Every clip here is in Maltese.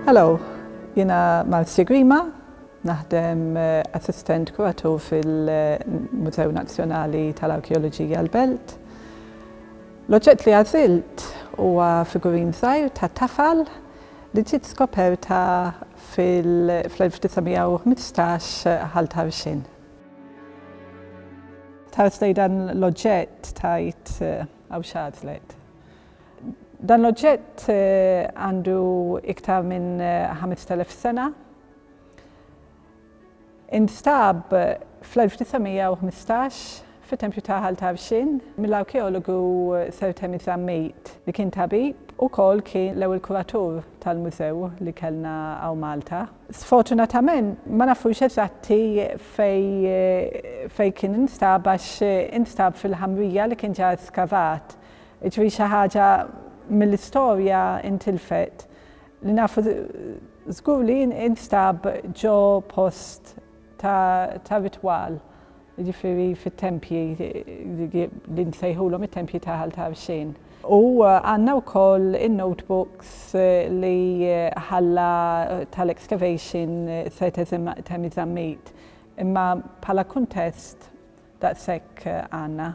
Hello, jina Malsi Grima, naħdem eh, assistent kuratur fil-Mużew Nazzjonali tal-Arkeoloġija l-Belt. L-oġġett li għażilt huwa figurin żgħir ta' tafal li ġiet skoperta fl-1915 Ħal Tarxien. Tħares lejn dan l-oġġett tgħid hawn x'għażlet. Dan l-oġġett għandu iktar minn 5,000 sena. Instab fl-1915 fit-tempju ta' Ħal Tarxien mill-arkeologu Sir Temi Zammit li kien tabib u wkoll kien l-ewwel kuratur tal-mużew li kellna hawn Malta. Sfortunatament ma nafux eżatti fejn fejn kien instab għax instab fil-ħamrija li kien ġa skavat. Jiġifieri xi ħaġa mill-istorja intilfet li nafu Żgur li jien instab ġo post ta' ritwal, jiġifieri fit-tempji li nsejħulhom it-tempji ta' Ħal Tarxien. U għandna wkoll in-notebooks li ħalla tal-excavation Sir Temmy Zammit. Imma bħala kuntest, Daqshekk għandna.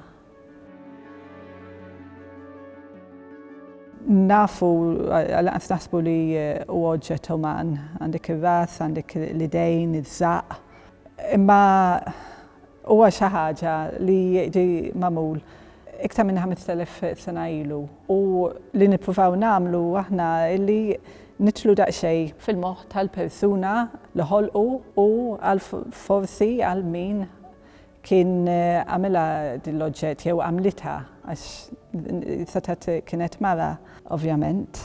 Nafu, lanqas naħsbu li huwa oġġett uman. Għandek ir-ras, għandek l-idejn, iż-żaqq. Imma huwa xi ħaġa li ġie magħmul iktar minn 5,000 sena ilu. U li nippruvaw nagħmlu aħna li nidħlu daqsxejn fil-moħħ tal-persuna li ħolqu u għal forsi għal min kien għamilha din l-oġġett jew għamlitha għax setgħet kienet mara ovvjament.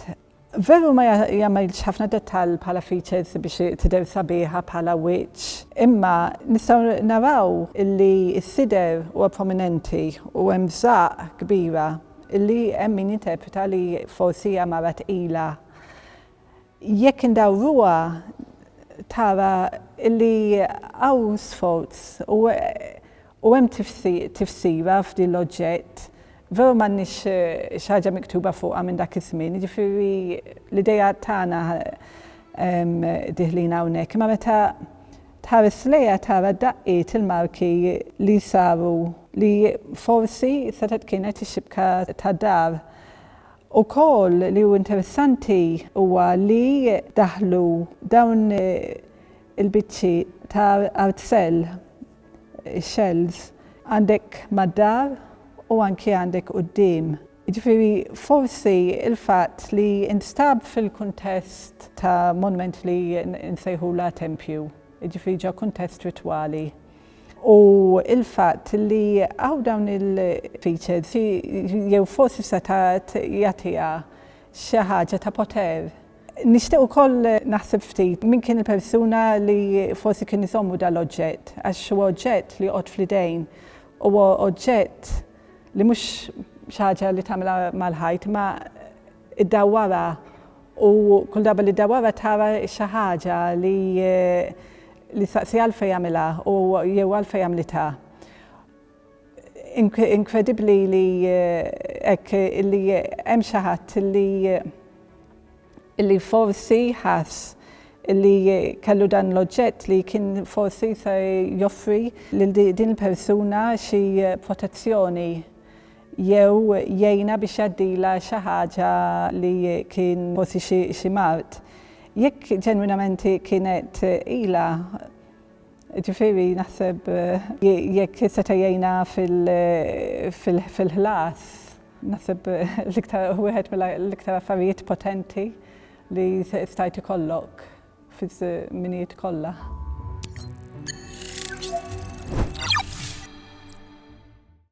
Veru ma jagħmilx ħafna dettall bħala features biex tidher sabiħa bħala wiċċ, imma nistgħu naraw illi s-sider huwa prominenti u hemm żaqq kbira illi hemm min jinterpreta li forsi hija mara tqila Jekk indawruha tara li hawn sforz u u hemm tifsira f'din l-oġġett, veru m'għandniex xi ħaġa miktuba fuqha minn dak iż-żmien, jiġifieri l-ideat tagħna dieħlin hawnhekk, imma meta tħares lejha tara d-daqqiet, il-marki li saru li forsi setgħet kienet ix-xibka tad-dar. Ukoll li hu interessanti huwa li daħlu dawn il-biċċi ta' artzell, shells, għandek mad-dar u anki għandek quddiem. Jiġifieri forsi l-fatt li nstab fil-kuntest ta' monument li nsejħulha tempju, jiġifieri ġo kuntest ritwali. u l-fatt li hawn dawn il-features jew forsi setgħat jagħtiha xi ħaġa ta' poter. Nixtieq ukoll naħseb ftit min kien il-persuna li forsi kien iżommu dan l-oġġett għax huwa oġġett li joqgħod fl-idejn, huwa oġġett li mhux xi ħaġa li tagħmilha mal-ħajt imma iddawwarha u kull darba li ddawwarha tara xi ħaġa li li ssaqsi għalfejn għamilha u jew għalfejn għamlitha. Inkredibbli li hekk li hemm xi ħadd li li forsi ħass li kellu dan l-oġġett li kien forsi se joffri lil din il-persuna xi protezzjoni. jew jgħinha biex jgħaddilha xi ħaġa li kien forsi xi mard. Jekk ġenwinament hi kienet ilha, ġifieri naħseb jekk seta' jgħinha fil-ħlas, naħseb l-iktar wieħed mill-iktar affarijiet potenti li stajt ikollok fiż-żminijiet kollha.